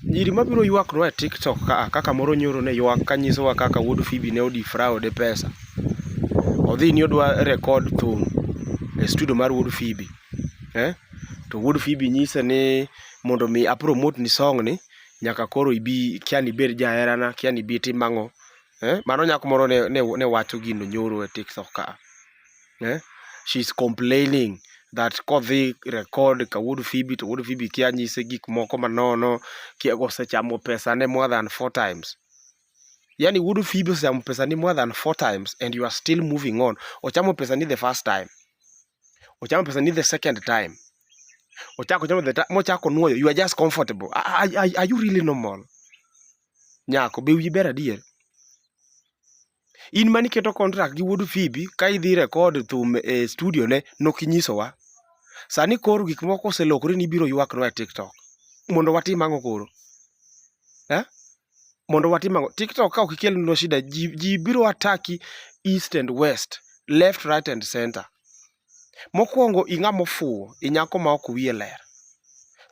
Nyiri mabiro ywaknwa e TikTok ka kaka moro nyoro ne ywak ka nyisowa kaka wuod Phoebe ne odifrawo de pesa. Odhi ni odwa record thum e studio mar wuod Phoebe. Eh? To wuod Phoebe nyise ni mondo mi a promote ni song ni nyaka koro ibi kiani ibed jaherana, kiani ibi tim ang'o. Eh? Mano nyako moro ne, ne, ne wacho gino nyoro e TikTok ka. eh? She's complaining that kodhi record ka wuod Phoebe to wuod Phoebe kia nyise gik moko manono, kia osechamo pesane more than four times. Yani wuod Phoebe osechamo pesani more than four times and you are still moving on. Ochamo pesani the first time. Ochamo pesani the second time. Ochako ochamo the time. Mochako nuoyo. You are just comfortable. Are, are, are you really normal? Nyako, be wiyi ber adier? In mane iketo contract gi wuod Phoebe ka idhi record thum e studio ne nok inyisowa. Sani koro gik moko oselokore ni ibiro ywaknwa e TikTok. Mondo watim ang'o koro? Eh? Mondo watim ang'o? TikTok ka ok ikelnwa shida ji, ji biro attack east and west, left, right and center. Mokwongo ing'ama ofuwo, inyako ma ok wiye ler.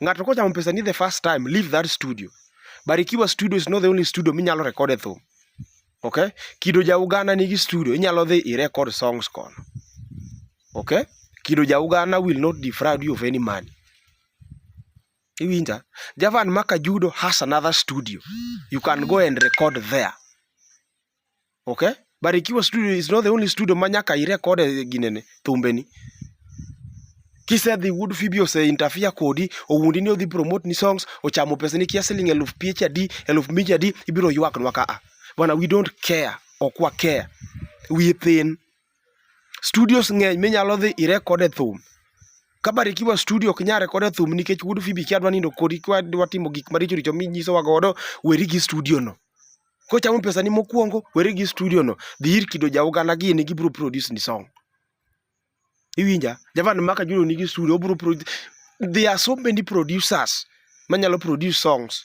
Ng'ato kochamo pesani the first time, leave that studio. Barikiwa studio is not the only studio minyalo record e thum. Okay? Kido ja Uganda nigi studio, inyalo dhi i record songs kono. Okay? Kido ja Uganda will not defraud you of any money. Iwinja? Javan Makajudo has another studio. You can go and record there. okay barikiwa studio is not the only studio ma nyaka irekod e ginene thumbeni kisedhi wuod fibi ose interfere kodi owundi ni odhi promote ni songs ochamo pesa ni kia siling eluf piech adi eluf mich adi ibiro ywak nwa kaa bana we don't care ok wa care we thin studios ng'eny minyalo dhi irekod e thum kabarikiwa studio ok nyare kode thum nikech wuod fibi kia dwa nindo kodi kwa dwa timo gik maricho richo minyisowa godo weri gi studio no kochamo pesani mokwongo weri gi studio no dhi ir kido ja uganda gi ni gibro produce ni song iwinja javan maka juno nigi studio obro produce there are so many producers manyalo produce songs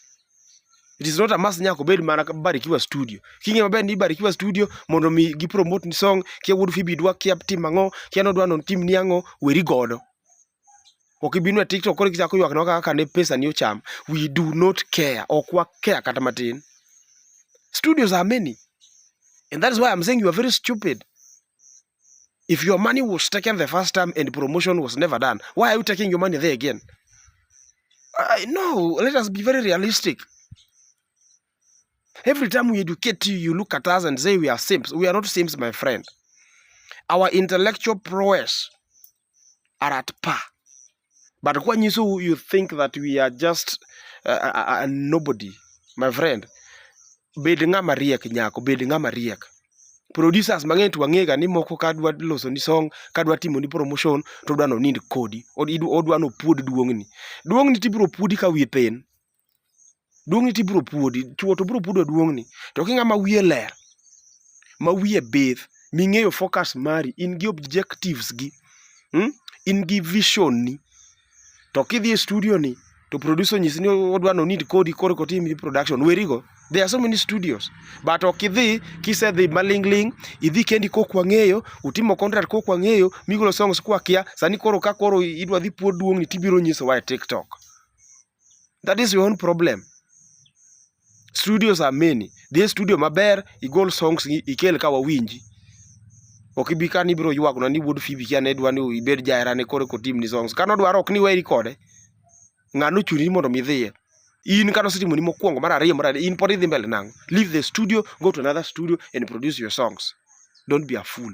it is not a must nyaka obed mana barikiwa studio kinge maber ni barikiwa studio mondo mi gi promote ni song kia wuod fibi dwa kia tim ang'o kia nodwa non tim ni ang'o weri godo ok ibinu e tiktok koro ichako ywak na kaka ne pesa ni ocham we do not care ok wa care kata matin studios are many and that is why i'm saying you are very stupid if your money was taken the first time and promotion was never done why are you taking your money there again I, no let us be very realistic Every time we educate you, you look at us and say we are simps. We are not simps, my friend. Our intellectual prowess are at par. But when you, so you think that we are just a, uh, a, uh, uh, a nobody, my friend, bed ng'ama riek nyako, bed ng'ama riek. Producers mang'eny to wang'ega ni moko ka dwa loso ni song, ka dwa timo ni promotion, to dwa no nind kodi, odwa no puod duong'ni. Duong'ni tibro puodi ka wiye piny. duong'ni to ibiro puodi chuo to biro puodo duong'ni to ka ing'ama wiye ler ma wiye bith ming'eyo focus mari in gi objectives gi hmm? in gi vision ni to kidhi e studio ni to producer onyisi ni odwa no need kodi koro kotim production werigo There are so many studios. But okidhi kise dhi malingling, idhi kendi kok wang'eyo, utimo contract kok wang'eyo, migolo songs kwa kia, sani koro ka koro idwa dhi puod duong' ni tibiro nyiso wa e TikTok. That is your own problem. Studios are many. Dhi studio maber, igol songs ikel ka wawinji. Ok ibi ka ni biro ywagona ni wuod Phoebe kia ne dwa ni ibed jahera ne kore kotim ni songs. Kano dwaro ok ni weri kode. Ng'ano chuni mondo mi dhiye. In kano setimo ni mokwongo mar ariyo mar in pod idhi mbele nang'o. Leave the studio, go to another studio and produce your songs. Don't be a fool.